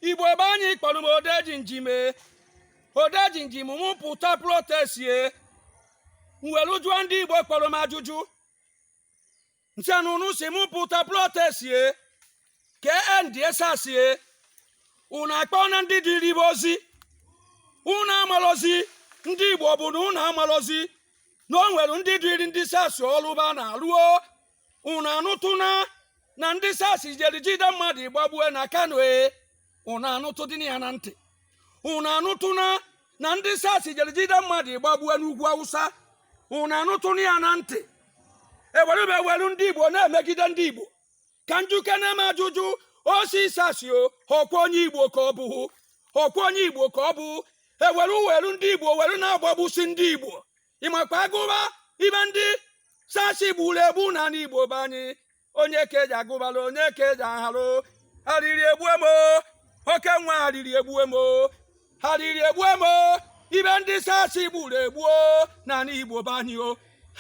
igbo be anyị kpọrọ m odejimjim e odejimjim mụ pụta protest m welu jụọ ndị igbo kpọrọ m ajụjụ m sị na unu sị mụ pụta protest ka e endie sars unu akpọna ndị duyeli ba ozi unu amalọzi ndị igbo bụ na unu amalọzi na o nwere ndị duyeli ndị sars ọlụ ba na-alụ o unu anụtụna na ndị sars jere jide mmadụ gbagbue na kano ee unu anụtụdịna ya na ntị unu anụtụna na ndị sars jere jide mmadụ gbagbue n'ugwu awụsa unu anụtụna ya na ntị e welube ewelu ndị igbo na-emegide ndị igbo ka m jụkene m ajụjụ oc sars o ọkwa onye igbo ka ọ bụ ọkwa onye igbo ka ọ bụ e welu welu ndị igbo were na-agbagbusi ndị igbo ị makwa agụba ibe ndị sars gburu egbu n'anị igbo be anyị onye ka ị ja-agụbalụ onye ka ị ja-aharụ arịrị egbue m o oke nwa arịrị egbue m o arịrị egbue m o ibe ndị sars gburu egbu n'anị igbo be anyị o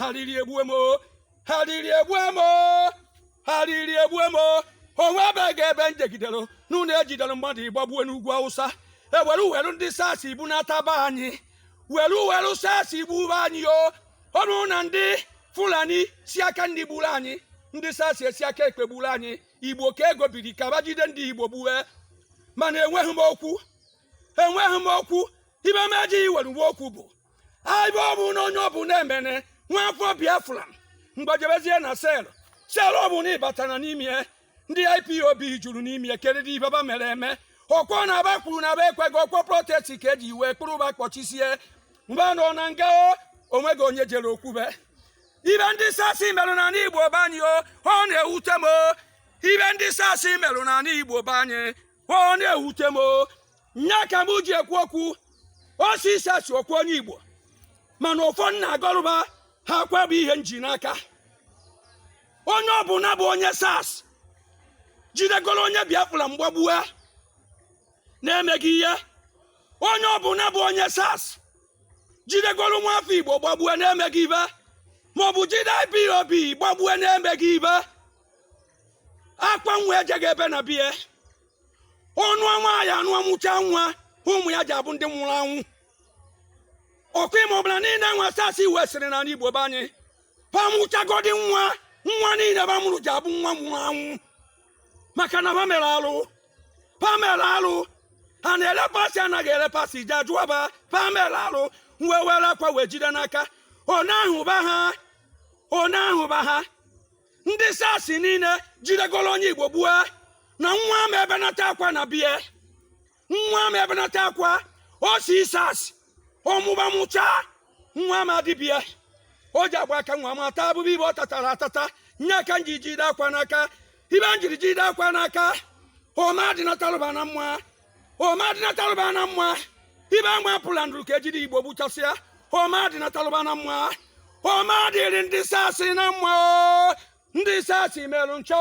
arịrị egbue m arịrị egbue m arịrị egbue m o nwebeghị ebe m jegidere nụ na e jidere mmadụ gbagbue n'ugwu awụsa e were were ndị sars gbunataba anyị were were sars gbube anyị o ọnụ na ndị fulani si aka nni gburu anyị ndị sars esi aka ekpe gburu anyị igbo ka e gobiri ka ba jide ndị igbo gbuwe mana enweghị m okwu enweghị m okwu ibe m ejighị were nwee okwu bụ aibe ọ bụ na onye ọ bụla emene nwa afọ biafra gbaa jebezie na cell cell ọ bụ na ị batara n'ime ya ndị ipob juru n'ime ya kedụ ibe ba mere eme ọkwa na ba kwuru na ba ekweghị ọkwa protest ka eji wee kpụrụ ba kpọchisie ba nọ na nga o o nweghị onye jere okwube ibe ndị sars melu n'anị igbo be anyị o ọ na-ewute m o ibe ndị sars melu n'anị igbo be anyị ọ na-ewute m o nya ka m ji ekwu okwu oc sars ọkwa onye igbo mana ọfọ m na-agọrụ ba akwa bụ ihe m ji n'aka onye ọbụla bụ onye sars jidegoro onye biafra gbagbue na-emeghị ihe onye ọbụla bụ onye sars jidegoro nwa afọ igbo gbagbue na-emeghị ibe maọbụ jide ipob gbagbue na-emeghị ibe akwa nwa ejeghị ebe na be ya ọ nụa nwaanyị anụa mụcha nwa ụmụ ya ja-abụ ndị nwụrụ anwụ ọkụ ime ọbụla niile nwa sars wesịrị n'anị igbo be anyị ba mụchagodi nwa nwa niile ba mụrụ ja-abụ nwa nwụrụ anwụ maka na ba mela alụ ba mela alụ ha na-elepasị anaghị elepasị ja-ajụ ba ba mela alụ m wee were akwa wee jide n'aka ọ na-ahụba ha ọ na-ahụba ha ndị sasi niile jidegoro onye igbo gbue na nwa ama ebenata akwa na bie nwa ama ebenata akwa o si sasi ọ mụba mụcha nwa ama adị bie ọ ja-agba aka nwa ma taa afụfụ ibe ọ tatara atata nya ka m ji jide akwa n'aka ibe m jiri jide akwa n'aka ọ ma adịnatalụ ba na mma ọ ma adịnatalụ ba na mma ibe ama apụla ndụrụ ka ejide igbo gbuchasịa ọ ma adịnatalụ ba na mma ọ ma adịrị ndị sasị na mma ndị sasị merụ ncha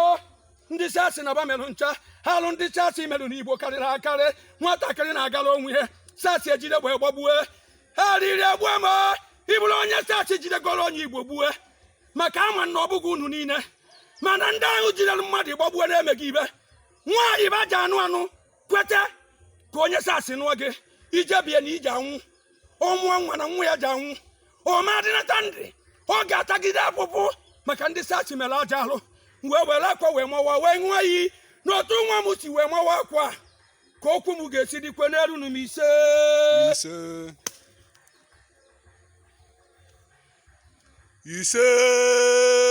ndị sasị na ba merụ ncha alụ ndị sasị merụ n'igbo karịrị akarị nwatakịrị na-agala onwe ya sasị ejide egbe gbagbue arịrị egbue ma ị bụrụ onye sasị jidegoro onye igbo gbue maka a ma na ọ bụghị unu niile mana ndị ahụ jidere mmadụ gbagbue na-emeghị ibe nwaanyị ba ja-anụ anụ kweta ka onye sasị nụọ gị i je bie na i je anwụ ọ mụọ nwa na nwa ya je anwụ ọ ma adịnata ndụ ọ ga-atagide afụfụ maka ndị sasị mere aja alụ wee were akwa wee mawa wee ṅụọ iyi n'otu nwa m si wee mawa akwa ka okwu m ga-esi dịkwe n'elu nụ m ise ise ise